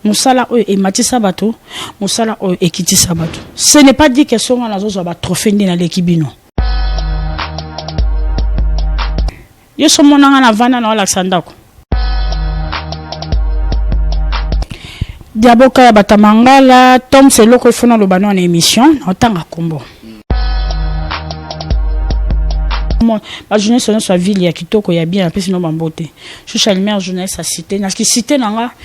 musala oyo ematisa bato musala oyo ekitisa bato ce n'est pas dit que so nga nazozwa batrophée nde naleki bino yo so mona nga navanda na olakisa ndako diaboka ya batamangala tom seloko ifo naloba no na émission naotanga kombo bajournaliste nyonso ya ville ya kitoko ya bien apesi no bambote shusha lumière journaliste ya cité na cité na nga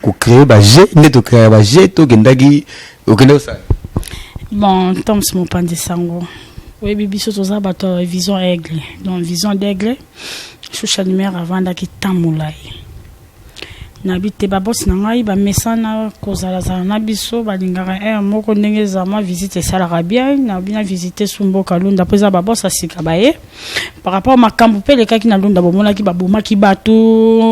ko créer ba jeux nde to créer ba jeux to kendaki okende osala bon toms mopanzi sango oyebi biso toza bato ya vision aigle donc vision d'aigle shusha numere avandaki temps molai nayebi te babosi na ngai bamesana kozalazala na biso balingaka heure eh, moko ndenge eza mwa visite esalaka bien nayebi na visite su mboka lunda mpo eza babosi ya sika baye par rapport makambo mpe elekaki na lunda bomonaki babomaki bato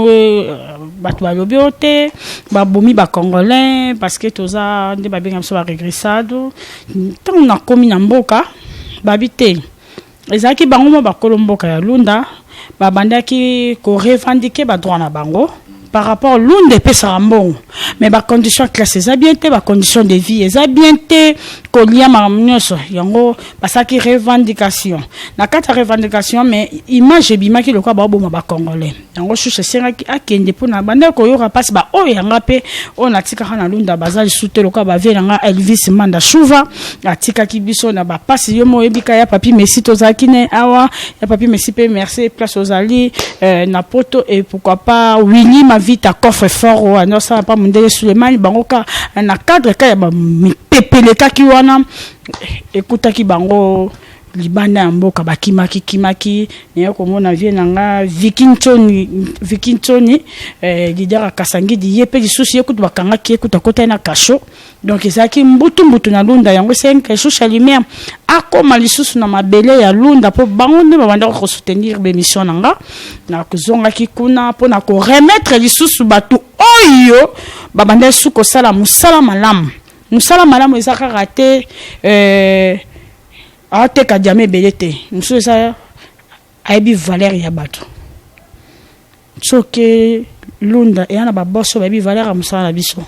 euh, bato balobi oyo te babomi bacongolais parce que toza nde babenga biso baregressado ntango nakomi na mboka babi te ezalaki bango mwa bakolo mboka ya lunda babandaki korevandike badroit na bango par rapport lunda epesaka mbongo mais ba condition classe eza bien te ba condition de vie eza bien te kolia makambo nyonso yango basalaki revendication na kati ya revendication mais image ebimaki lokola baoboma bacongolais yango susu esengaki akende mpona bandaki koyoka mpasi baoyo yanga mpe oyo natikaka na lunda baza lisusu te lokola bavie na nga elvis manda shuva atikaki biso na ba passe yo mo yebika ya papi Messi tozalaki ne awa ya papi Messi pe merci place ozali euh, na poto et pourquoi pas Winnie ma vie ta coffre fort ou non ça pas mon délai Suleiman bango ka na cadre ka ya ba mipepelekaki wana ekutaki bango libanda ya mboka bakimaki kimaki naye komona vie na nga vikinchoni vikinchoni eh, lidera kasangidi ye mpe lisusu ye kutu bakangaki ye kutu akotaki na kasho Donc ezalaki mbutu mbutu na Lunda yango esalaki Caïchou Chalumière akoma lisusu na mabele ya Lunda mpo bango nde babandaki kosoutenir bemission na nga nakozongaki kuna mpo na koremettre lisusu bato oyo babandaki lisusu kosala mosala malamu mosala malamu eza kaka te euh, ateka diama ebele te mosusu eza ayebi valeur ya bato Soki Lunda eya na ba boss oyo bayebi valeur ya mosala na biso,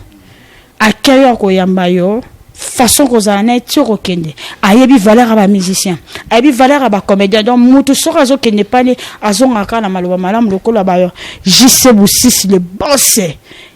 accueil oyo akoyamba yo, façon okozala na ye ti okokende, ayebi valeur ya ba musiciens, ayebi valeur ya ba comediens, donc mutu soki azokende epai na ye, azongaka kaka na maloba malamu lokola ba JC Busisi le boss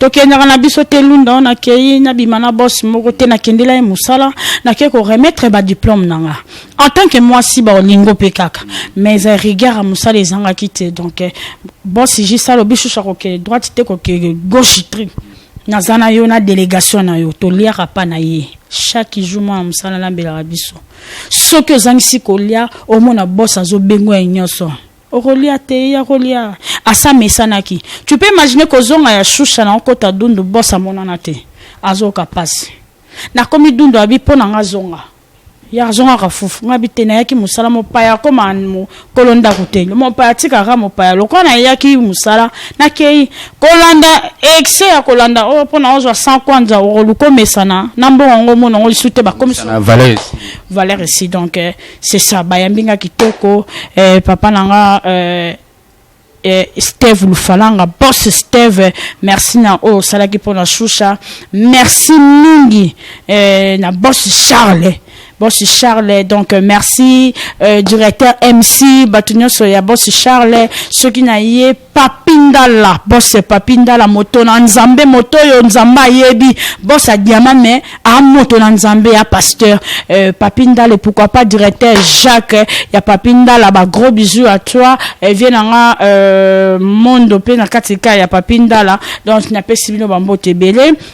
tokendaka na biso te lunda oyo nakei nabima na boss moko te nakendela ye mosala nakei koremettre badiplome na nga en tant que mwasi baolingo mpe kaka mais eh, rigueur ya mosala ezangaki te donc eh, boss jis alobi susu akokende droite te kokende gauche tri naza na yo na délégation na yo toliaka mpa na ye chaque jour mwana mosala alambelaka biso soki ozangisi kolia omona boss azobengo ya nyonso Okolia te ye akolia asi amesanaki tu peux imaginer kozonga ya shusha na okota dundu boss amonana te azooka pasi nakomi dundu abi po na nga zonga ya azongaka fufu nga abi te nayaki musala mopaya akoma mokolo ndaku te mopaya atikaka mopaya lokola nayaki musala nakeyi kolanda excès ya kolanda oyo po na ozwa 100 kwanza okoluka omesana na mbongo yango omona yango lisusu te bakomisa valeur esi donc c'est ça bayambi nga kitoko eh, papa na nga eh, eh, steve lufalanga boss steve merci na oyo osalaki mpo na shusha merci mingi eh, na boss charles boss charles donc euh, merci euh, directeur mc bato nyonso ya boss charles soki na ye Papy ndala boss papy ndala moto na nzambe moto oyo nzambe ayebi boss ya diamant mais a moto na nzambe ya pasteur euh, papy ndala et pourquoi pas directeur jacques ya papy ndala ba gros bisous à toi euh, vie na nga euh, mondo pe na kati ka ya papy ndala donc na pesi bino ba mbote ebele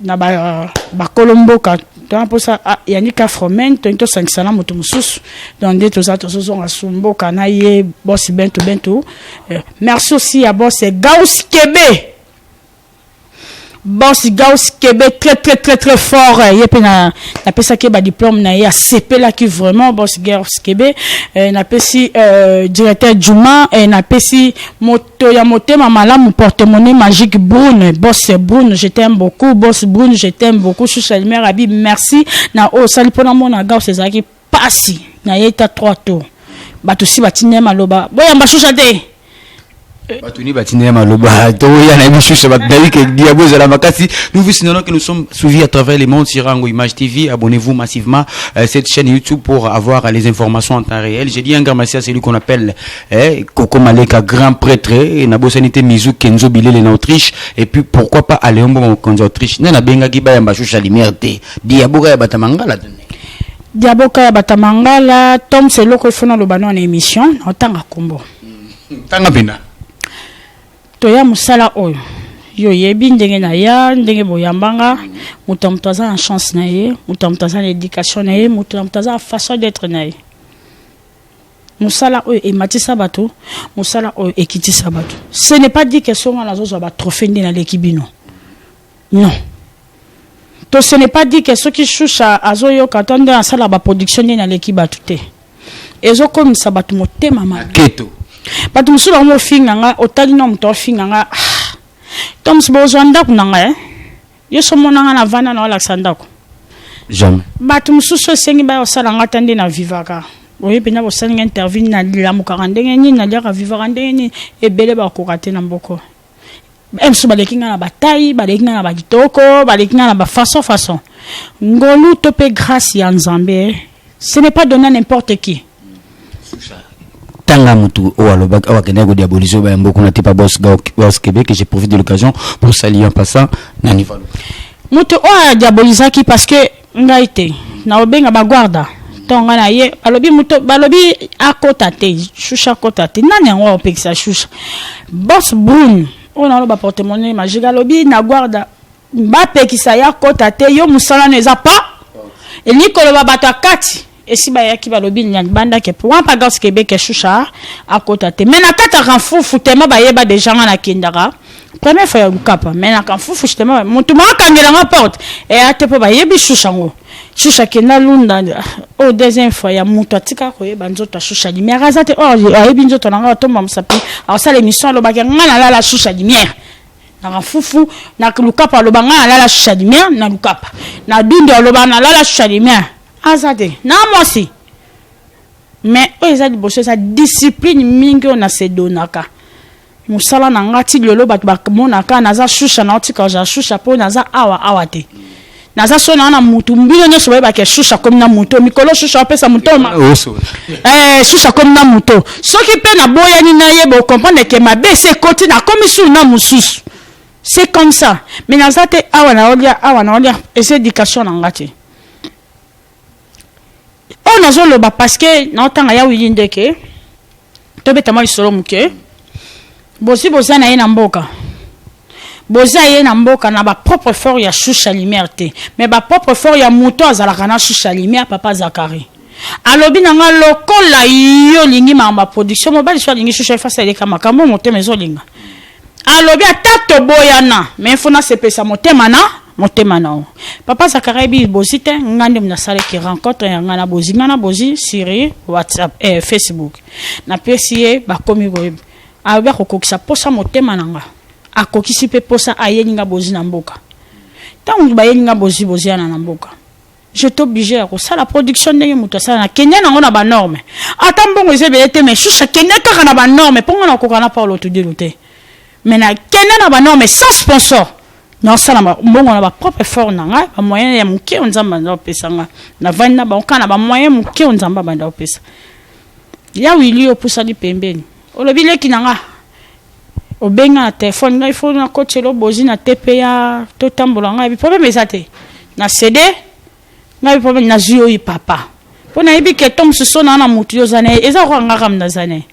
na ba bakolo mboka toza mposa ah, yangi ka fromen toyini tosangisa na moto mosusu donc nde toza tozozonga su mboka na ye bosi bento bento eh, merci aussi ya bosi eh, gaus kebe bosi gaus kebe très très très très fort eh, ye mpe na napesaki ye badiplome na ye asepelaki vraiment bosi gaus kebe napesi directeur juma napesi mot Moto ya motema malamu porte-monnaie magique Brune bosse Brune je t'aime beaucoup bosse Brune je t'aime beaucoup sous la lumière abi merci na oyo osali mpo namona Gauss ezalaki mpasi na ye ta trois tours bato si batinda ye maloba boyamba shusha te bato ni batinda ye maloba toya na ye mosusu bato nayebi ke diabo ezala makasi nous vous signalons que nous sommes suivis à travers le monde sur Rango Image TV abonnez-vous massivement euh, cette chaîne YouTube pour avoir les informations en temps réel j'ai dit un grand merci à celui qu'on appelle eh, Coco Maleka, grand prêtre, eh, na bosani te Mizu Kenzo Bilele na Autriche, et puis pourquoi pas Aléon Mboma mokonzi Autriche. Nana benga ki ba yamba shusha lumière te. Diaboka ya batamangala tene. Diaboka ya batamangala, Tom Seloko ifona lobano en émission, na otanga kombo. Tanga bina. Toya musala oyo. yo yebi ndenge na ya ndenge boyambanga moto ya moto aza na chance na ye moto ya moto aza na éducation na ye moto ya moto aza na façon d'être na ye musala oyo ematisa bato musala oyo ekitisa bato ce n'est pas dit que so nga nazozwa batrophée nde naleki bino non to ce n'est pas dit que soki shusha azoyoka to nde asala baproduction nde naleki bato te ezokomisa bato motema maketo bato mosusu bango mofinga nga otali na moto ofinga nga ah, to mosusu bozwa ndako na ngai eh? yo so mona nga na vanda na olakisa ndako jamais bato mosusu esengi baya kosala nga ata nde na vivaka oye mpenza kosala nga interview nalamukaka ndenge nini naliaka vivaka ndenge nini ebele bakoka te na mboko mosusu baleki nga na batai baleki nga na bakitoko baleki nga na bafaçon façon ngolu to mpe grace ya nzambe Ce n'est pas donné à n'importe qui. tanga mutu oyo alobaki oyo akendaki kodiabolise oyo bayambo kuna te pa bos bos québec je profite de l'occasion pour saluer en passant na niveau moto oyo adiabolisaki parce que ngai te naobenga baguarda ntongo ngai na ye balobi moto balobi akota te shusha akota te nani yango akopekisa shusha bos brune oyo naloba portemone majiga alobi na guarda Ba pekisa ye akota te yo musala no eza pa elingi koloba bato ya kati esi bayaki balobi na libanda ke pwa mpa gars kebeke shusha akota te me na kati ya kanfufu tema bayeba deja nga nakendaka première fois ya lukapa me na kanfufu justement motu mo akangela nga porte eya te mpo bayebi shusha ngo shusha kenda lunda oyo oh, deuxième fois ya motu atika koyeba nzoto ya shusha limière aza te or oh, ayebi nzoto na nga atomba mosapi akosala émission alobaki nga nalala shusha limière na mafufu na lukapa aloba ngai nalala shisha limia na lukapa na dundu aloba nalala shisha limia aza te na mwasi mais oyo eza liboso eza discipline mingi oyo nasedonaka mosala na ngai ti lelo bato bamonaka naza shusha naotika ja shusha mpo naza awa awa te Naza soni wana mutu mbino nyoso bayeba ke susu akomi na moto mikolo susu apesa motoma eh, susu akomi na moto soki mpe naboyani na ye bokomprendre ke mabe esi ekoti nakomi suu na mosusu c'est comme ça mais naza te awa naolia awa naolia eza éducation na nga te oyo nazo loba parce que nao tanga ya Willy Ndeke to beta mwa lisolo muke bozi boza na ye na mboka boza ye na mboka na ba propre fort ya shusha lumière te mais ba propre fort ya moto azalaka na shusha lumière papa Zachary alobi na nga lokola yo lingi makambo ya production mobali so alingi shusha efasi aleka makambo motema ezolinga Alobi ata toboyana mais il faut na sepelisa motema na motema na yo. Papa Zakaria bi bozi te nga nde mna sala ki rencontre ya nga na bozi nga na bozi sur WhatsApp eh, Facebook. Na pesi ye ba komi ko alobi akokokisa posa motema na nga. Akokisi pe posa ayeli nga bozi na mboka. Tango bayeli nga bozi bozi ana na mboka. je t'oblige ya kosala production ndenge moto asala na kenya nango na banorme ata mbongo eza ebele te mais shusha kende kaka na banorme mpo ngai nakoka na paulo tudilu te mais na kende na banorme sans sponsor naosala mbongo na baprop effort na ngai bamoyen ya moke oyo nzambe abanda kopesa ngai navandi na bango kaka na bamoyen moke oyo nzambe abanda kopesa ya wili opusani pembeni olobi leki na ngai Obenga na telephone ngai faut na kotela yo bozi na tpa to tambola ngai bi problème eza te na ceder ngai bi problème na zui oyi papa po na yebi ke to mususu ona na mutu yo za naye eza ko nga kam na za naye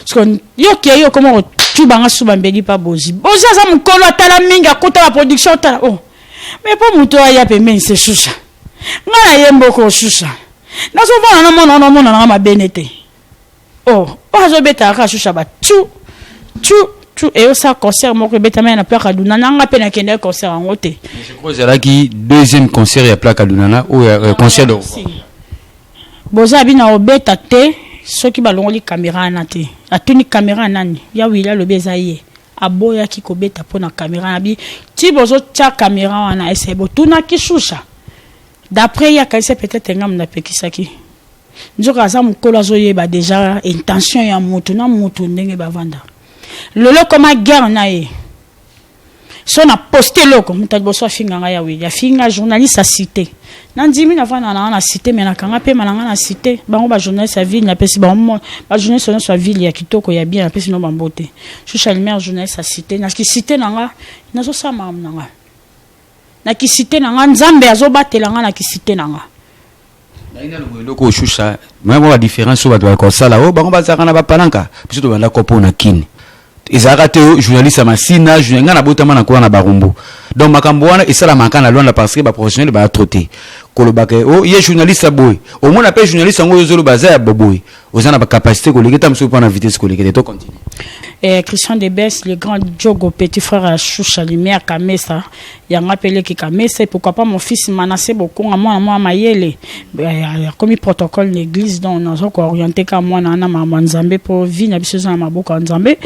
siko yo ke yo koma ko tuba nga suba mbeli pa bozi bozi aza mukolo atala mingi akuta ba production ta oh mais po mutu oyo aya pembeni se susa nga na ye mboko susa na zo vona na mona ona mona na nga mabene te Oh oyo azo beta kaka shusha ba tchou tchou tchou eyo sa concert moko ebetamaki na Plaka Dunana nga pe nakendaki concert yango te. Je crois ezalaki deuxième concert ya Plaka Dunana oyo euh, ah, concert de boza bina obeta te soki balongoli kamera wana te atuni kamera nani ya wili alobi eza ye aboyaki kobeta mpo na kamera na bi ti bozotya kamera wana ese botunaki shusha d'après ye akanisa peut-être ngambo napekisaki Nzoka aza mukolo azo yeba deja intention ya mutu na mutu ndenge bavanda. Lelo koma guerre na ye. So na poste loko mutu aliboso afinga nga ya Willy afinga journaliste a cite. Na ndimi na vanda na na cite mais na kanga pema na nga na cite. Bango ba journaliste ya ville na pesi bango ba journaliste nyonso ya ville ya kitoko ya bien na pesi no ba mbote. Shusha lumière journaliste a cite na ki cite na nga nazo sala makambo na nga. Na ki site na nga nzambe azo batela nga na ki site na nga. Naye nanu boye eloko oshusha mwa mwa ba difference oyo bato bakosala oyo oh, bango bazalaka na bapalanka biso tobanda kopo na kini ezalaka te oh, journaliste ya masina journal ngai nabotama na kola na barumbu donc makambo wana esalamaka na lwanda parce que baprofessionnel baya trop te kolobaka o oh, ye journaliste ya boye omona mpe journaliste yango oyo ozoloba aza ya boboye oza na bacapacité koleke ta mosusu mpo na vitesse kolekete to continue eh, christian de bes le grand jogo petit frère ya shusha lumière kamesa yango apeleki kamesa et pourquoi pas mon fils manasse bokonga mwana mwa mayele eh, akomi protocole na église donc naza kooriente ka mwana wana makambo ya nzambe mpo vie na biso eza na maboko ya nzambe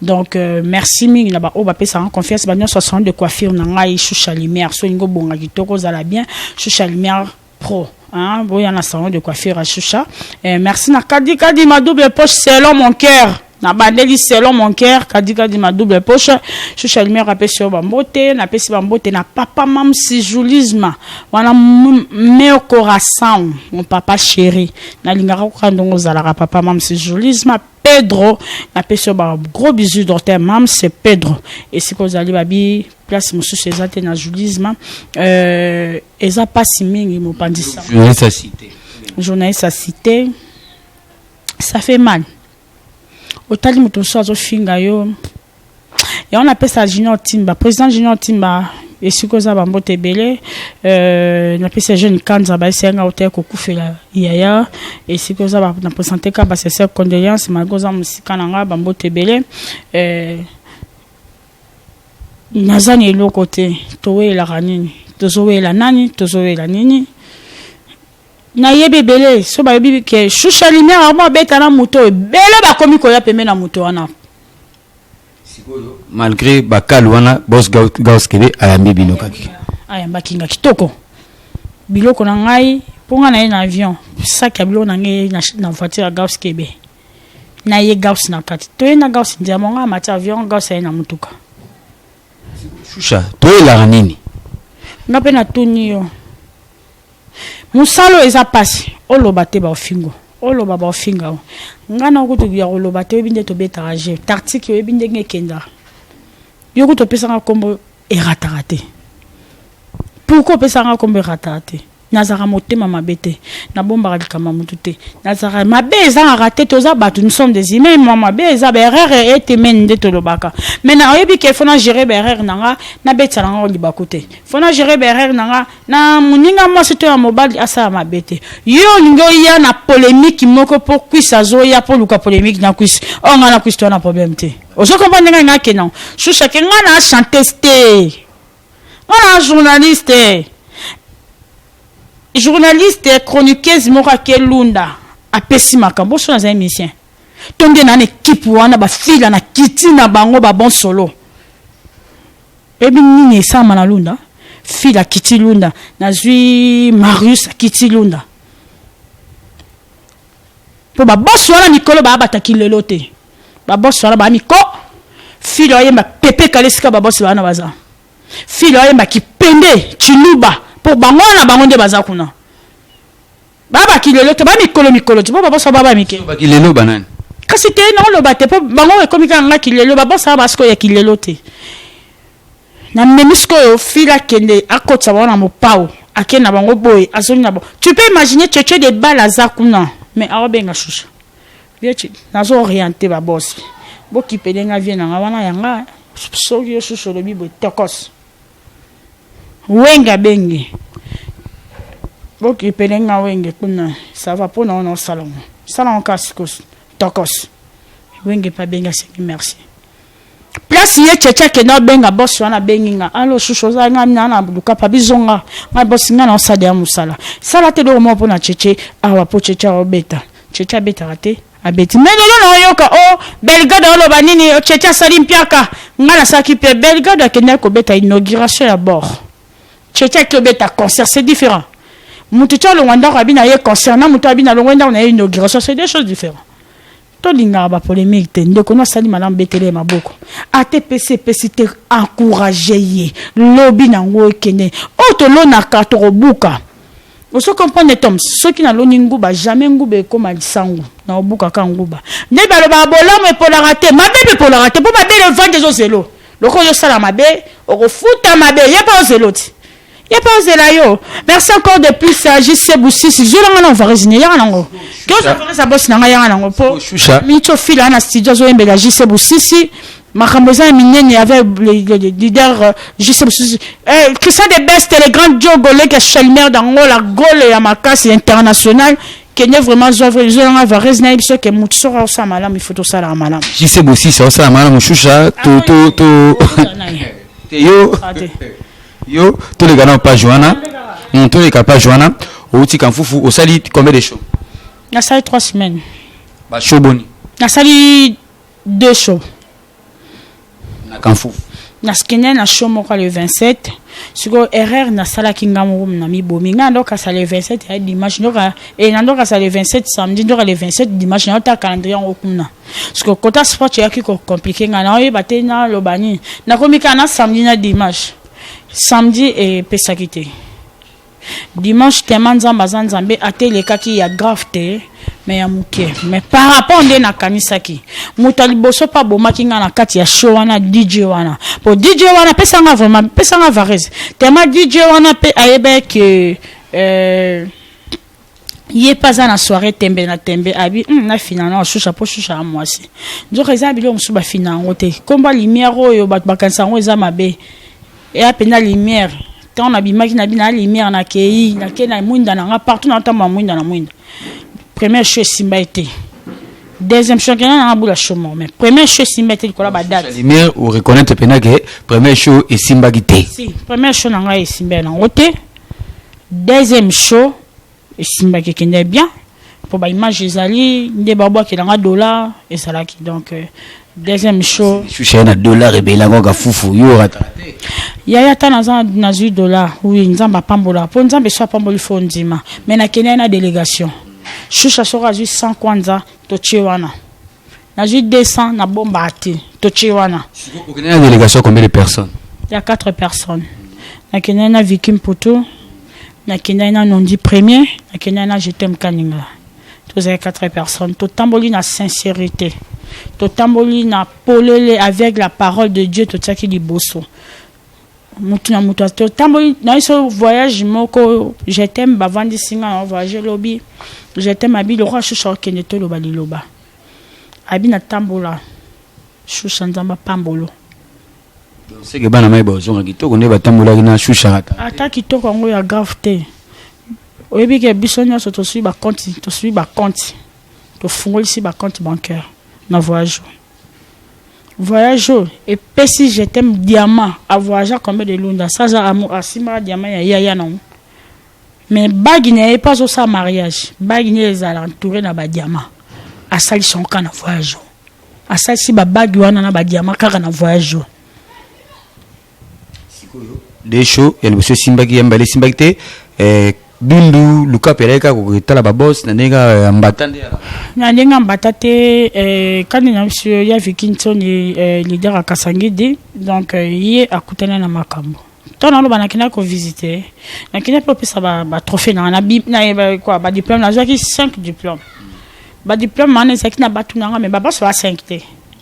donc euh, merci mingi na baoyo bapesaka confiance banyonso asalon de coiffure na ngai shusha lumière so olingi obonga kitoko ozala bien shusha lumière pro hein boya na salon de coiffure à Shusha eh, merci na kadi kadi ma double poche selon mon cœur na bandeli selon mon cœur kadi kadi ma double poche Shusha lumière apesi yo bambote napesi bambote na papa mam sijulisme wana meilleur corazon mon papa chéri nalingaka kokandongo ozalaka papa mam sijulisme Pedro na pesi yo ba gros bisous docteur Mams Pedro esika ozali babi place mosusu eza te na julisme euh, eza pasi mingi mopanzi sa journaliste ya cité journaliste ya cité ça fait mal otali moto mosusu azofinga yo yango napesa junior timba président junior timba esika oza bambote ebele euh, napesi ya jeune kanza bayesi yanga otaya kokufela yaya esika oza na présente ka basese condoléance malgre oza mosika na nga bambote ebele euh, naza na eloko te toweyelaka nini tozoweyela nani tozoweyela nini Na yebi ebele so ba yebi ke shusha lumière akomi abeta na moto oyo ebele ba komi koya pembe na moto wana. Sikoyo malgré ba kalu wana boss gaus kebe ayambi bino kaki. Ayambaki nga kitoko. Biloko na ngai po nga na ye na avion sac ya biloko na ngai na, na voiture ya gaus kebe. Na ye gaus na kati. To ye na gaus ndiamo nga amati avion gaus aye na mutuka. Shusha, to ye la nini? Nga pe na tuni yo. Musala oyo eza pasi oloba te ba ofingo oloba ba ofinga yo nga na okutu ya koloba te oyebi nde tobetaka jeu tartique oyebi ndenge ekendaka yo kutu opesanga kombo erataka te pourquoi opesanga kombo erataka te nazalaka motema mabe te nabombaka likambo ya motu te nazalaka mabe ezangaka te toza bato nous sommes des humains mwa mabe eza baerreur etemeni nde tolobaka mai na oyebi ke fona gere baerreur na nga nabetisa na nga libaku te fona gere baerreur na nga na muninga mwasi to ya mobali asala mabe te yo olingi oya na polemique moko po kwisi azoya po luka polemique na kwisi o oh, nga na kwisi to na problème te ozo comprendre ngai nga kena shusha ke nga na chanteuse te nga na journaliste journaliste chroniqueuse moko ake lunda apesi makambo oso naza émission tonde na na ekipe wana bafila na kiti na bango babon solo Oyebi nini esalama na Lunda? Fil akiti Lunda, nazwi Marius akiti Lunda. Mpo babosi wana mikolo baabata kilelo te. Babosi wana baa miko, fil ayemba pepe kale esika babosi wana baza. Fil ayemba kipende, tshiluba, mpo bango wana bango nde baza kuna. baba kilelo te ba mikolo mikolo ti po babosa baba mike ba kilelo banani kasi te naoloba te po bango ekomi kaka nga kilelo babosa ba sikoyo ya kilelo te namemi sikoyo fila akende akotisa bango na mopao ake na bango boye azongi na bango tu peux imaginer cheche de bale aza kuna mais aobenga shusha vieci nazo oriente babosi bokipele nga vie na nga wana ya nga soki yo susu olobi boye tokos Wenge abengi bokipele nga wenge kuna sava mpo na wana osala ngo sala ngo kasi kosi tokos wenge mpe abengi asengi merci place ye cheche akenda obenga bosi wana abengi nga alo shushu ozala nga mina na lukapa bizonga nga bosi nga na osala ya mosala sala te eloko moko mpo na cheche awa mpo cheche aobeta cheche abetaka te Abeti mais lelo na oyoka o oh, Belgade oloba nini oh, Tchetche asali mpiaka ngai nasalaki mpe Belgade akendaki kobeta inauguration ya bord Tchetche aki obeta concert c'est différent moto tya olongwa ndako abi na ye concert na moto abi na longwa ndako na ye inauguration c'est deux choses différentes tolingaka bapolemike te ndeko no asali malamu betele ye maboko ata epesi epesi te encourage ye lobi na yango ekende oyo tolonaka tokobuka Ozo comprendre Toms soki naloni nguba jamais nguba ekoma lisangu na obuka ka nguba nde balobaka bolamu epolaka te mabe mpe epolaka te mpo mabe na evandi ezo zelo loko ozosala mabe okofuta mabe ye mpe ozelo ti ye mpe ozela yo merci encore de plus jc busisi zola nga na ovarese ne yanga nango ke ozo ovarese ya bosi na nga yanga nango mpo minitio fila na studio azoyembela jc busisi makambo eza ya minene avec le leader euh, juste mosusu eh, christian de best le grand joe goleke chalmer d'angola gole ya makasi international kende vraiment zwa vrai zwa nga varese nayebi so ke motu soko akosala malamu ifo tosalaka malamu jise bosisi akosala malamu shusha to to to te yo ah, yo toleka na page wana hmm, toleka page wana outi kamfufu osali combien de show nasali 3 semaines bashow boni nasali Deux shows. Na Kanfufu. Naskende na show moko le 27. Sikoyo erreur nasalaki nga moko na mibomi. Nga ndo kasa le 27 ya dimanche ndoka eh na ndoka sa le 27 samedi ndoka le 27 dimanche na ta calendrier yango kuna. Sikoyo kota sport yaki ko compliquer nga na oyeba te na loba nini. Nakomi ka na samedi na dimanche. Samedi epesaki te. Dimanche tema nzambe aza nzambe ata elekaki ya grave te mais ya muke mais par rapport nde nakanisaki moto ya liboso mpe abomaki ngai na kati ya show wana dj wana mpo dj wana pesa ngai vraiment pesa ngai varese tema dj wana mpe ayebaki euh, ye mpe aza na soirée tembe na tembe abi mm, nafina na oshusha mpo shusha ya mwasi nzoka eza na biloko mosusu bafina yango te nkomba lumière oyo bato bakanisa yango eza mabe eya mpenza lumière ntango nabimaki na bina ya lumière nakei nakei na mwinda na nga partout natambola mwinda na mwinda première show esimba ye te deuxième show kena nanga bula show moko mais première show esimba ye te likolo ya badate lumière oreconnaitre mpenza ke première show esimbaki te si première show na ngai esimba ye nango te Deuxième show esimbaki ekendaki bien po ba image ezali nde ba bwakela nga dollar ezalaki donc euh, deuxième show Shusha ye na dollar ebele yango kaka fufu yo orata yaya ata naza nazwi dollar oui nzambe apambola po nzambe so apamboli fo ondima mais nakendaki na délégation shusha soko azwi 100 kwanza totie wana nazwi 200 na bomba te totie wana okende na délégation combien de personnes ya 4 personnes nakendaki na viki mputu nakendaki na nondi premier nakendaki na jetem kaninga tozali 4 personnes totamboli na sincérité totamboli na polele avec la parole de dieu totiaki liboso mutu na mutu totamboli na biso voyage moko je t'aime bavandisi nga na voyage lobi je t'aime abi lokola shusha okende toloba liloba abi natambola shusha nzambe apambolo seke bana mai bazonga kitoko nde batambolaki na shusha kaka ata kitoko yango ya grave te oyebi ke biso nyonso tosui bakonti tosui bakonti tofungolisi bakonti bancaire na voyage Voyage oyo epesi je t'aime diamant a voyagea combien de lunda ça aza amour asimbaka diamant ya yaya na ngo mais bague na ye mpe azosala mariage bague na ye ezala entouré na badiamant asalisi yango kaka na voyage oyo asalisi babague wana na badiamant kaka na voyage oyo sikoyo desho ya liboso esimbaki ya mbale esimbaki te eh, dundu lukape alaki kaka kotala babos na ndenge kaka ya mbata nde ya- na ndenge ya mbata te eh, kani na biso ya vikinson eh, leader ya kasangidi donc eh, ye akutana na makambo to naloba nakenda kovisite nakenda mpe opesa ba- batrophée nanga na bi- na ye ba- quoi, badiplome nazwaki 5 diplome badiplome wana ezalaki na bato nanga me babaso ba 5 te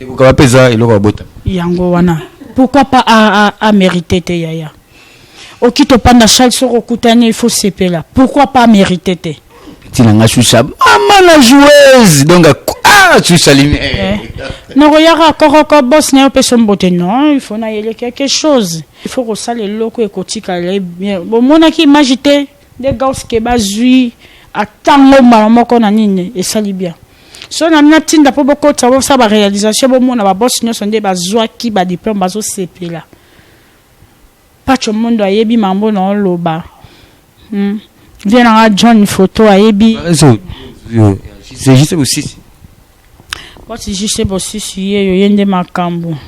Ekoka wapi eza eloko ya bota. Yango wana pourquoi pas a a a merite te yaya okito panda Charles soko kutani il faut sepela pourquoi pas merite te tina nga shusha mama la joueuse donc ah shusha limi eh. nakoyaka kokoko bos na yo mpe sombote non il faut nayele quelque chose il faut kosala eloko ekotikala ye bien bomonaki image te nde gauske bazwi atango mbala moko na nini esali bien Soki na mina tinda po bokotisa bosala ba realisation bomona ba boss nyonso nde bazwaki ba diplome bazosepela. Patsho Mondo ayebi mambo na oloba. Hmm. Vie na nga John photo ayebi. C'est juste bosisi. Boss juste bosisi yeyo yende makambo.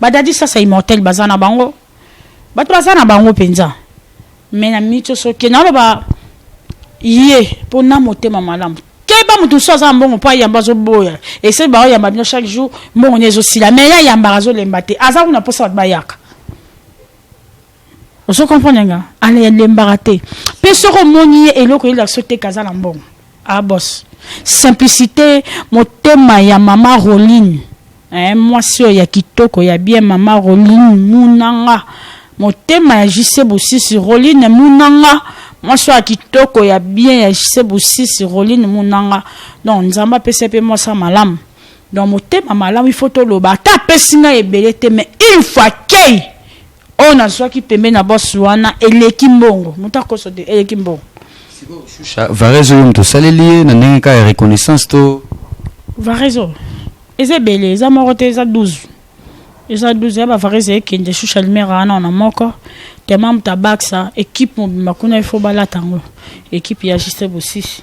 Ba Daddy sasa immortel baza na bango batu baza na bango penza mais na micho soki naloba ye po na motema malamu keba moto mosusu aza na mbongo mpo ayamba azoboya esali baoyamba bino chaque jour mbongo nde ezosila mais ye ayambaka azolemba te aza kuna mposa bato bayaka ozo comprendre nga ale alembaka te pe soki omoni ye eloko yeli aso te kaza na mbongo ah boss simplicité motema ya mama roline eh, mwasi oyo ya kitoko ya bien mama roline munanga motema ya jise bosisi roline munanga mwasi ya kitoko ya bien ya jise bosisi roline munanga donc nzambe apesa mpe mwasi ya malamu donc motema malamu ifo toloba ata apesi ngai ebele te mais une fois kei Oyo nazuaki pembeni ya boss wana eleki mbongo mutu akoso te eleki mbongo. Sikoyo Shusha Varese oyo mutu osaleli ye na ndenge kaka ya reconnaissance to. Varese oyo eza ebele eza moko te eza 12 eza 12 ya ba Varese ekende Shusha Limera wana wana moko tellement mutu abakisa equipe mobimba kuna il faut balata yango equipe ya Juste Bosisi.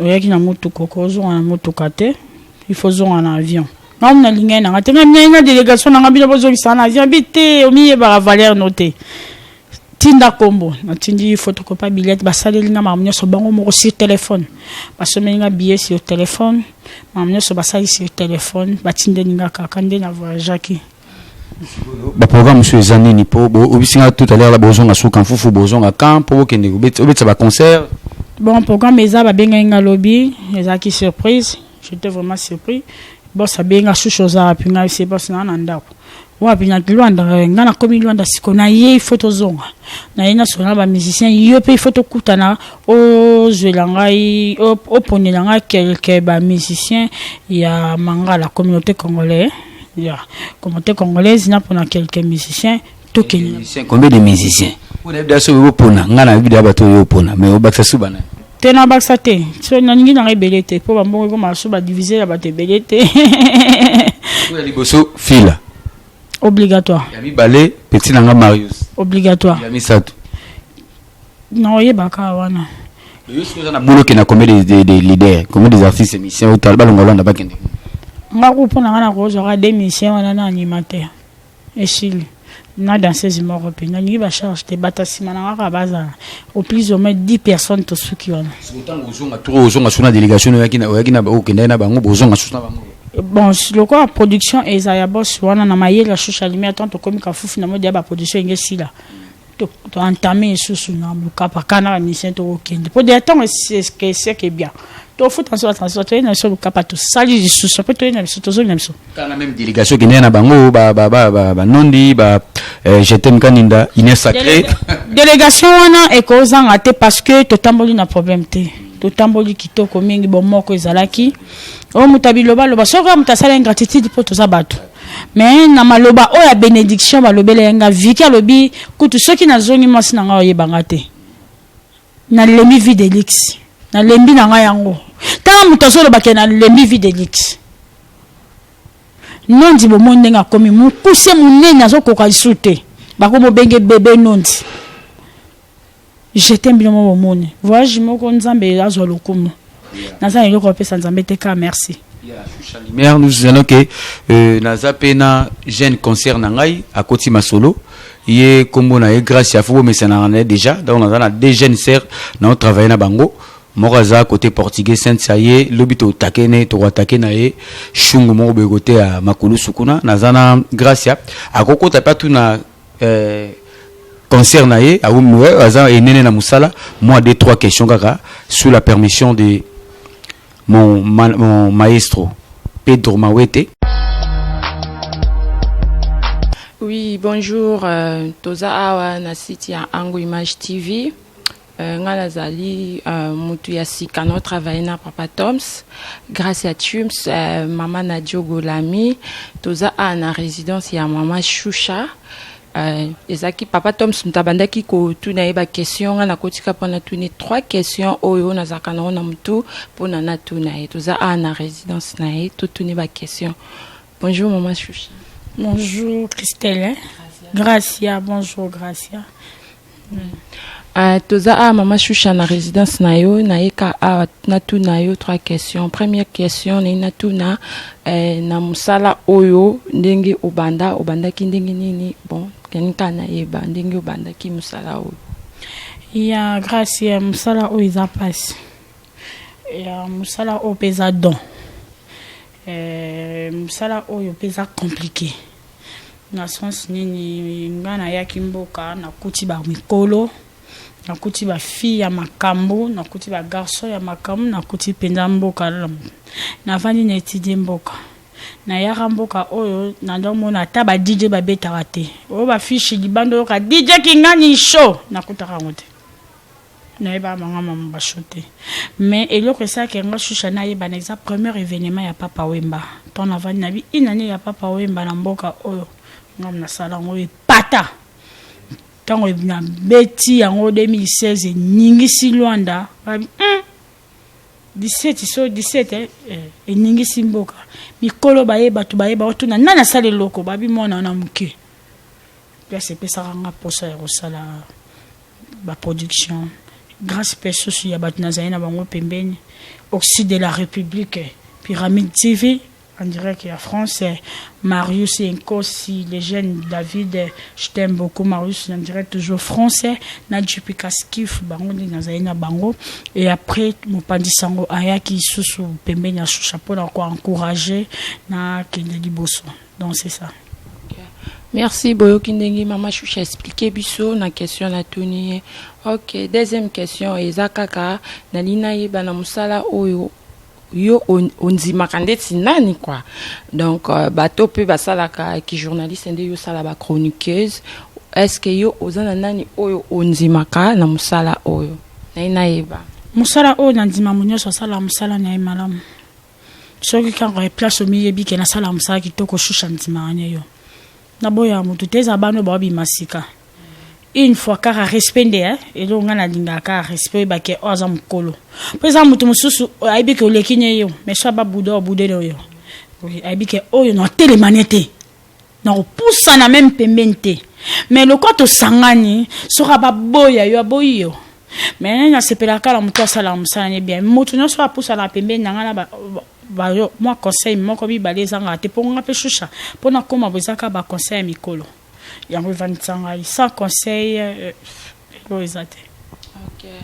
oyaki na motuka okozonga na motuka te il faut zonga na avion na omina lingani nanga te ngai minai na délégation nanga bino bozongisa na avion bi te omiyebaka valeur no te tinda kombo natindi photocopie billet basaleli nga makambo nyonso bango moko sur téléphone basomeli nga billet sur téléphone makambo nyonso basali sur téléphone batindeli nga kaka nde na voyageaki ba programme mosusu eza nini mpo boyebisi nga tout à l'heure la bozonga suka mfufu bozonga camp mpo bokende obetisa ba concert bon programme eza babengaki nga lobi ezalaki surprise j'étais vraiment surpris bos abengi nga susu oza wapi ngai se bos naa na ndako wapi na luanda eh, ngai nakomi luanda siko na ye ifo tozonga na ye nasola na bamusicien yo mpe ifo tokutana ozwela ngai oponela ngai quelque bamusicien ya mangala communauté congolais ya communauté congolaise na pona quelques musiciens tokende combien de musiciens oyo nayebi daso oyo opona ngai nayebi da bato oyo opona mais obakisa suba na te nabakisa te so nalingi nanga ebele te mpo bambongo ekoma so badivise ya bato ebele te oyo liboso fila obligatoire ya mibale petit nanga marius obligatoire ya misato Non, il est baka wana. Yo soki oza na boulot kenda comedy des des leaders, comedy des artistes émission ou talba longa longa ba kende. Nga ko pona nga na ko zwa des missions wana na animateur. Esili. Na danseuse moko pe na ngi ba charge te bata sima na nga ka baza au plus ou moins 10 personnes to suki wana. Sotango ozonga trop ozonga suna délégation oyaki na oyaki na ba okenda na bango bozonga suna bango. bon lokola production eza ya boss wana na mayele ya shusha limi ata tokomi kafufu na mode ya baproduction enge esila to entame lisusu na mokapa kana bamisien tokokende mpo deya ntango eseke bien tofuta nso batransfert toyei na biso mokapa tosali lisusu mpe toyei na biso tozongi na biso kanga meme délégation ekendeki na bango banondi eh, jetem kaninda ine sacré délégation wana ekozanga te parce que totamboli na problème te totamboli kitoko mingi bomoko ezalaki oyo moto abilobaloba soki oyo moto asala ingratitude mpo toza bato Mais na maloba oyo ya benediction balobelaki nga Vicky alobi kutu soki nazongi mwasi na ngai oyeba nga te. Nalembi vie de luxe. Nalembi na ngai yango. Tala moto azoloba ke nalembi vie de luxe. Nondi bomoni ndenge akomi mokuse monene azokoka lisusu te. Bakomobenge bebe nondi. Je t'aime bino moko bomoni. Voyage moko Nzambe azwa lokumu. Naza na eloko ya kopesa Nzambe te ka merci. Lumière, nous allons que euh, naza pe na jeune concert na ngai akoti masolo ye kombo na ye grâce ya fubo mesana na déjà donc naza na deux jeunes sœurs na travailler na bango moko aza côté portugais sainte sa ye lobi totake ne tokoatake na ye shungu moko boye kote ya makulusu kuna naza na gracia akokota mpe atuna Euh, concert na ye aza enene na musala moi deux trois questions kaka sous la permission de mon, ma, mon maestro Pedro Mawete Oui, bonjour. Euh, toza awa na site ya Ango Image TV. Euh, nga nazali euh, mutu ya sika na travaille na papa toms grâce ya tums euh, mama na diogolami toza a na résidence ya mama shusha euh, ezalaki papa toms moto abandaki kotuna ye baquestion nga nakotika mpo natuni trois questions oyo nazalaka nango na motu mpo na natuna ye toza a na résidence na ye totuni baquestion Bonjour maman Choucha. Bonjour Christelle. Gracia, bonjour Gracia. Mm. Uh, toza awa mama shusha na résidence na yo nayeka awa natuna yo trois questions première question naye natuna eh, na mosala oyo ndenge obanda obandaki ndenge nini bon kenika nayeba ndenge obandaki mosala oyo ya grâce ya mosala oyo eza mpasi ya mosala oyo mpe eza don Euh, mosala oyo mpe eza compliqué na sens nini nga nayaki mboka nakuti bamikolo nakuti bafille ya makambo nakuti bagarçon ya makambo nakuti mpenza mboka navandi na etidie mboka nayaka mboka oyo nazomona ata ba dj babetaka te oyo bafishi libanda oyoka dj kingani show nakutaka yango te nayebaka banga mama basho te mais eloko esalaka yanga shusha nayebana eza premier événement ya papa wemba mpo navandi na bi une année ya papa wemba na mboka oyo ngam nasala yango epata ntango nabeti yango 2016 eningisi lwanda babi mm, 17 so 17 eh, eh, eningisi mboka mikolo baye bato baye baotuna nani asala eloko babi mwana wana moke place epesaka nga mposa ya kosala ba production grace pe susu ya bato nazali na bango pembeni oxyde de la republique pyramide tv en direct ya france marius enkosi le jeune david je t'aime beaucoup marius en direct toujours français na jp kaskif bango nde nazali na bango et après mopanzi sango ayaki susu pembeni ya shusha mpo na koencourage na kende liboso donc c'est ça Merci Boyoki ndenge mama Shusha expliquer biso na question na tuni. OK, deuxième question eza kaka na lina yeba na musala oyo yo ondimaka ndeti nani quoi donc euh, bato mpe basalaka ki journaliste nde yo osala ba chroniqueuse est ce que yo oza na nani oyo ondimaka na mosala oyo naye nayeba mosala oyo nandima mo nyonso asala mosala na ye malamu soki kaka place omiyebi ke nasala mosala kitoko shusha ndimaka ne yo naboya motu te eza bana oyo baobima sika une fois kaka respect nde eh? eloko ngai nalingaka kaka respect oyeba ke oyo aza mokolo mpo eza motu mosusu ayebi ke oleki ne yo mais so ababuda obude ne oyo ayebi ke oyo natelema ne te nakopusana meme pembeni te mais lokola tosangani soki ababoya yo aboyi yo mais nasepelaka na moto asalaka mosala ne bien moto nyonso apusana pembeni na ngai na bayo mwa conseil moko mibale ezangaka te mpo nga mpe shusha mpo nakoma bozaka baconseil ya mikolo yango evandisa ngai sans conseil euh, Lelo eza te. Okay.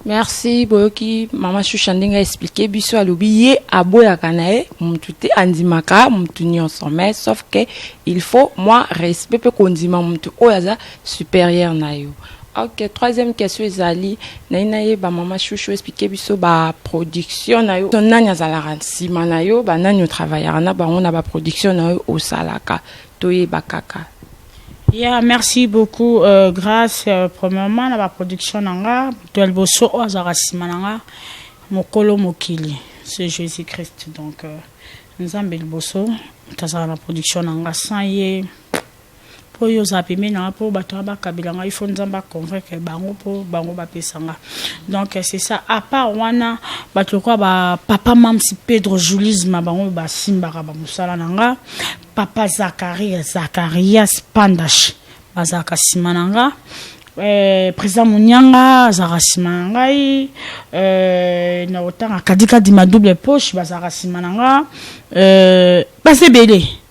Merci boyoki mama Shusha ndenge a expliquer biso alobi ye aboyaka na ye mutu te andimaka mutu nyonso mais sauf que il faut moi respect pe kondima mutu oyo aza supérieur na yo. Ok, troisième question ezali naye nayeba mama chouchou expliquer biso ba production na yo nani azalaka nsima na yo banani otravaillaka na bango na ba production na yo osalaka toyeba kaka Yeah, merci beaucoup euh, Grace. Euh, premièrement, na ba production na nga, moto ya liboso oyo azalaka nsima na nga, mokolo mokili, c'est Jésus-Christ. Donc, euh, Nzambe liboso, moto azalaka na production na nga, sans ye, mpo oyo ozala pembeni na nga mpo bato wana bakabela nga ifo nzambe aconvaincre bango mpo bango bapesa nga donc euh, c'est ça à part wana bato lokola bapapa mamsi pedro julisma bango oyo basimbaka bamosala na nga papa zakaria zakarias pandash bazalaka nsima na nga eh, président monianga azalaka nsima na ngai eh, na kotanga kadikadima double poche bazalaka nsima na nga eh, baza ebele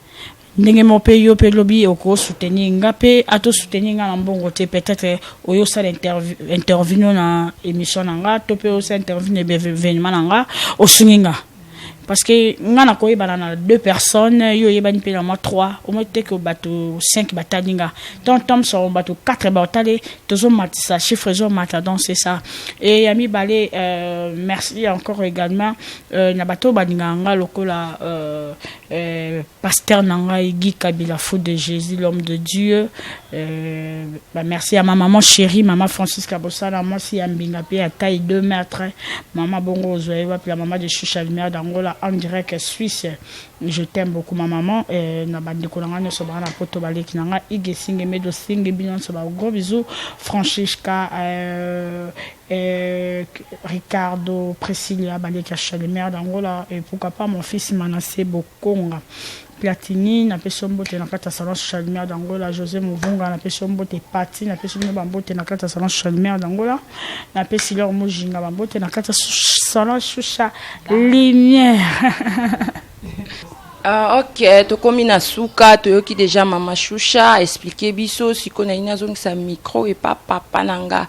ndenge moko mpe yo mpe lobi okosoutenir nga mpe atosoutenir nga na mbongo te peut-être oyo osala intervino na émission na nga to mpe osala intervino na événement na nga osungi nga parce que nga na koyebana na deux personnes yo oyebani mpe na mwa trois omoi te ke bato cinq batali nga ton thomson bato quatre batali tozomatisa chiffre ezomata donc c'est ça e ya mibale euh, merci encore également euh, na bato oyo balingaka nga lokola euh, Euh, pasteur na ngai Guy Kabila fou de Jésus l'homme de Dieu euh, bah merci à ma maman chérie maman Francisca Bosala mwasi ya mbinga pe ya taille 2 mètres maman bongo ozoye wapi la maman de Chucha Lumière d'Angola en direct Suisse je t'aime beaucoup ma maman euh, na bandeko na ngai nyonso baa na poto baleki na ngai ige singe medo singe bino nyonso ba gros bisous Francisca euh, Ehh Ricardo Precilia ba leki ya Shalemere d'Angola et pourquoi pas mon fils Manasse Bokonga Platini na pesi yo mbote na kati ya salon Shalemere d'Angola Jose Muvunga na pesi yo mbote Pathy na pesi bino ba mbote na kati ya salon Shalemere d'Angola na pesi Laure Mujinga ba mbote na kati ya salon Shusha Lumière. Ahh ok tokomi na suka toyoki dejà maman Shusha a explique biso sikoyo nalingi nazongisa micro epa papa na nga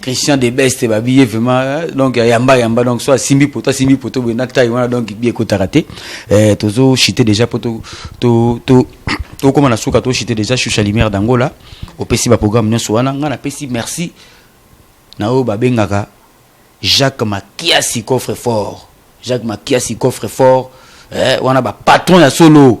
Christian de Best ba billet vraiment euh, donc ya yamba yamba donc soit simbi poto simbi poto boye na taille wana donc billet ekotaka te euh, tozo chite déjà po to to to tokóma na suka tochite déjà shusha lumière d'angola opesi baprogramme nyonso wana ngai napesi merci na oyo babengaka jacques makiasi coffre fort jacques makiasi coffre fort eh, wana bapatron ya solo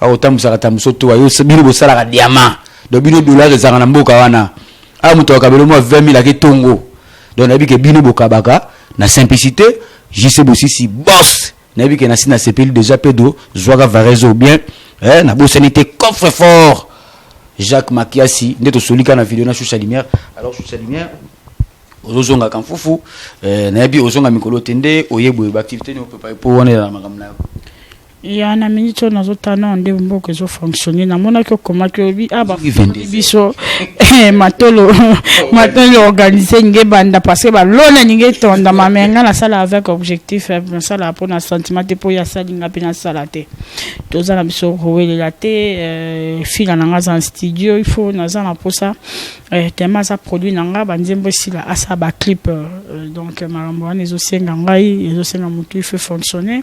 Awa otambusaka tambuso to ayo bino bosalaka diamant. Donc bino dollars ezanga na mboka wana. Awa moto akabelo mwa 20 000 ake tongo. Donc nayebi ke bino bokabaka na simplicité JC Bosisi boss. Nayebi ke nasi na sepeli déjà pedo zwaka varese ou bien eh na bosani te coffre fort. Jacques Makiasi nde tosolika na video na Shusha Lumière. Alors Shusha Lumière ozozonga kamfufu eh, nayebi ozonga mikolo te nde oyebwe baactivité nioprepare mpo wana elala makambo na yo Ya na minute oyo nazo tala nao nde mboka ezo fonctionner namonaki okomaki olobi ah bafungoli biso eh, matolo matolo organise ninge banda parce que balona ninge etondama mais ngai nasala avec objectif eh, nasala mpo na sentiment te mpo ye asali ngai mpe nasala te toza na biso kowelela te eh, fila na ngai aza na studio il faut naza na mposa tellement aza produit na ngai banzembo esila asala baclip donc makambo wana ezosenga ngai ezosenga motu il faut fonctionner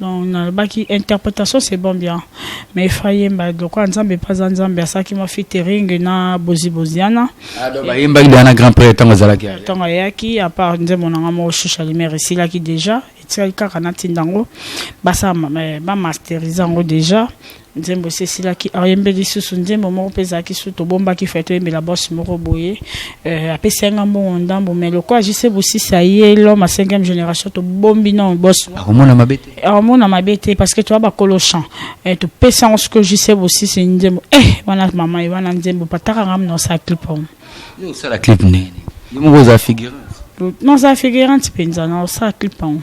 Donc nalobaki interpretation c'est bon bien mais il faut yemba lokola nzambe mpe aza nzambe asalaki mwa fitering na bozi boziana bayembaki deya na grand prêtre ntango azalaki ntango ayaki apart nzembo na nga moko shusha limere esilaki déjà etikali kaka natinda yango basala bamasterise yango déjà nzembo esi esilaki ayembe lisusu nzembo moko mpe ezalaki su tobombaki fai toyembela bos moko boye euh, apesi yanga mbongo ndambo mai lokola jise bosisi aye lom a cinquième génération tobombi na bos akomona mabe te akomona mabe te parce que toya bakolo champ euh, topesi yango soki jise bosisi nzembo e eh, wana mama ye wana nzembo pataka nga mna osala clip yango yo osala clip ndenge yo moko oza figurante non oza figurante mpenza na osala clip yango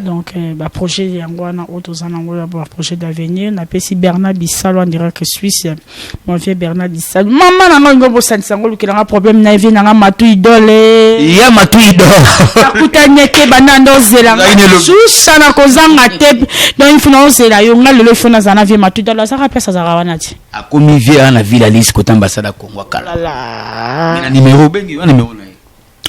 donc euh, baprojet yango wana oyo toza nango ya baprojet d'avenir napesi bernard bisalo en direct suisse mon vieux bernard bisalo mama na ngai ngo bosanisa yango olukela nga problème na vie na nga matu idole ya matu idole akutanye te banda nde ozela nga susa na kozanga te donc il faut na ozela yo nga lelo il faut nazala na vie matu idole azaka place azalaka wana ti akomi vie wana villa lise kota ambassade ya congo akala na numero obengi yo numero na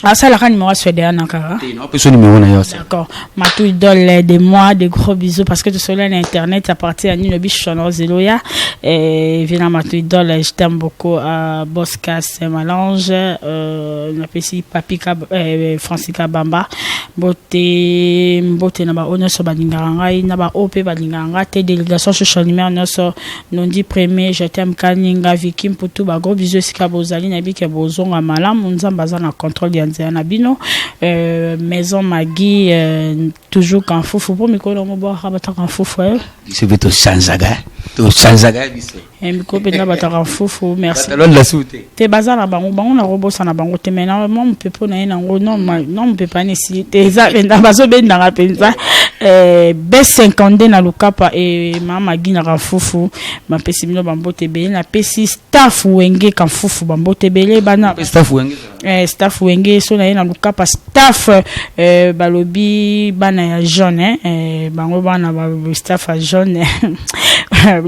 asalaka numéro ya swede wana kaka apesa numéro na yo d'accord matou idole de moi de gros bisous parce que tosolola na internet à partir ya nino bishonor zeloya vina matou idole je t'aime beaucoup euh, boscas malange euh, napesi papi euh, francis kabamba mbote mbote na baoyo nyonso balingaka ngai na baoyo mpe balingaka ngai te délégation social numéro nyonso Nondi premier je t'aime kaninga Vicky Mputu ba gros bisous esika bozali na bike bozonga malamu nzambe aza na contrôle ya nzela na bino euh, maison Maggie euh, toujours kanfufu po mikolo yango bwaka bataka kanfufu eh? biso mpe tosanzaka tosanzaka biso eh, mikolo mpenza bataka kanfufu merci batalonda su te te baza na bango bango na robosa na bango te mais na mwa mopepo na ye nango no mopepo ani esili te eza mpenza bazobendaka mpenza eh, b 52 na lukapa e mama gina kafufu bapesi bino bambote ebele napesi staff wenge kafufu bambote ebele bana staff wenge eh, staff wenge so na ye na lukapa staff Eh, balobi bana ya jaune hein? eh, bango bana ba staff ya jaune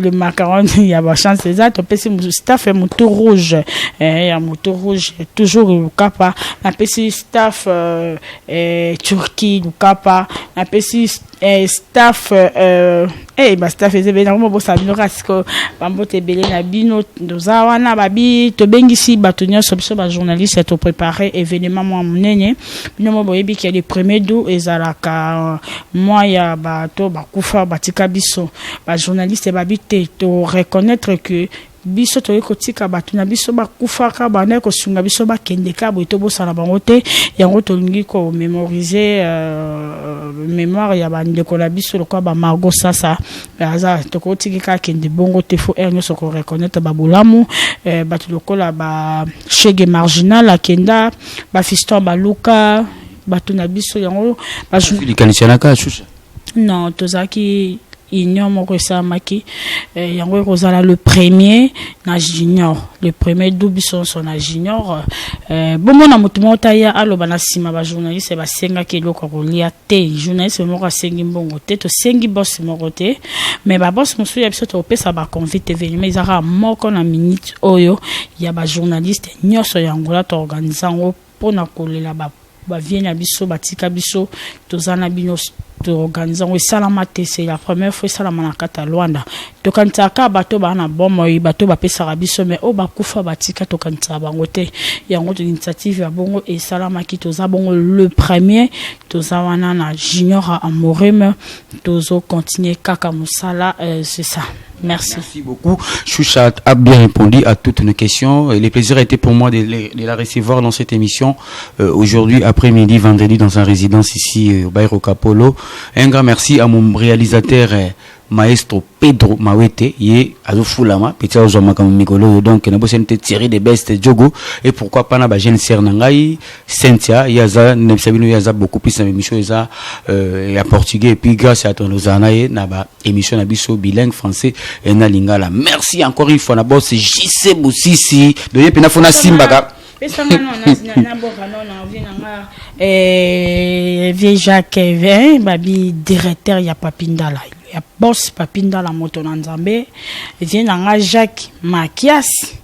le macaron ya bachance eza topesi mosu- staff ya motu rouge eh, ya motu rouge toujours lukapa napesi staff euh, eh, turquie lukapa napesi eh, staff euh, eh, ba staff eza ebele nakoma bosala bino kaka sikoyo bambote ebele na bino toza wana babi tobengisi bato nyonso biso bajournaliste ya toprépare événement mwa monene bino mo boyebi ke le premier dou ezalaka mwa ya bato bakufa batika biso bajournaliste babi te toreconnaitre que Biso tokoki kotika bato na biso bakufaka, bandaki kosunga biso bakendeka, boye tobosana bango te. Yango tolingi ko memoriser memoire ya bandeko na biso lokola ba Margot Sasa, aza tokoki tiki kaka kende bongo te, faut heure nyonso ko reconnaitre ba bolamu. Bato lokola ba Chegue Marginal akenda, ba Fiston Baluka, bato na biso yango ba. Likanisi ya Nakachucha. Non, tozalaki union moko esalamaki eh, yango ekozala le premier na junior le premier double sonso na junior eh, bomona moto moko taya aloba na nsima bajournaliste basengaki eloko ya kolia te journaliste moko asengi mbongo te tosengi bos moko te mais babos mosusu ya biso tokopesa baconvite evenima ezaka moko na minute oyo ya bajournaliste nyonso ya ngola toorganise yango pona kolela ba ba vieux na biso batika biso toza na bino toorganize yango esalama te se la première fois esalama na kati ya lwanda tokanisaka kaka bato baa na bomoi bato bapesaka biso mai oyo bakufa batika tokanisaka bango te yango initiative ya bongo esalamaki toza bongo le premier toza wana na junior amorim tozocontinue kaka mosala euh, c'est ça Merci. Merci beaucoup. Choucha a bien répondu à toutes nos questions. Et le plaisir a été pour moi de, de la recevoir dans cette émission euh, aujourd'hui après-midi, vendredi, dans sa résidence ici euh, au Bairro Capolo. Un grand merci à mon réalisateur. Euh, maestro pedro mawete ye azofulama peti azozwa makambo mikolo oyo donc nabosani te thierry de best jogo e pourquoi pas na bajeune sere na ngai cynthia ye aza nabisa bino ye aza beaucoup plus na bemission eza euh, ya portugais epuis grâce ya tonozala na ye na ba émission na biso bilingue français et na lingala merci encore une fois na boss JC Bosisi de yepe na fona simbaka pesanga non na boka non na vie nanga eh vieux Jacques eh, babi directeur ya Papindala ya boss Papindala moto na Nzambe vie nanga Jacques Makias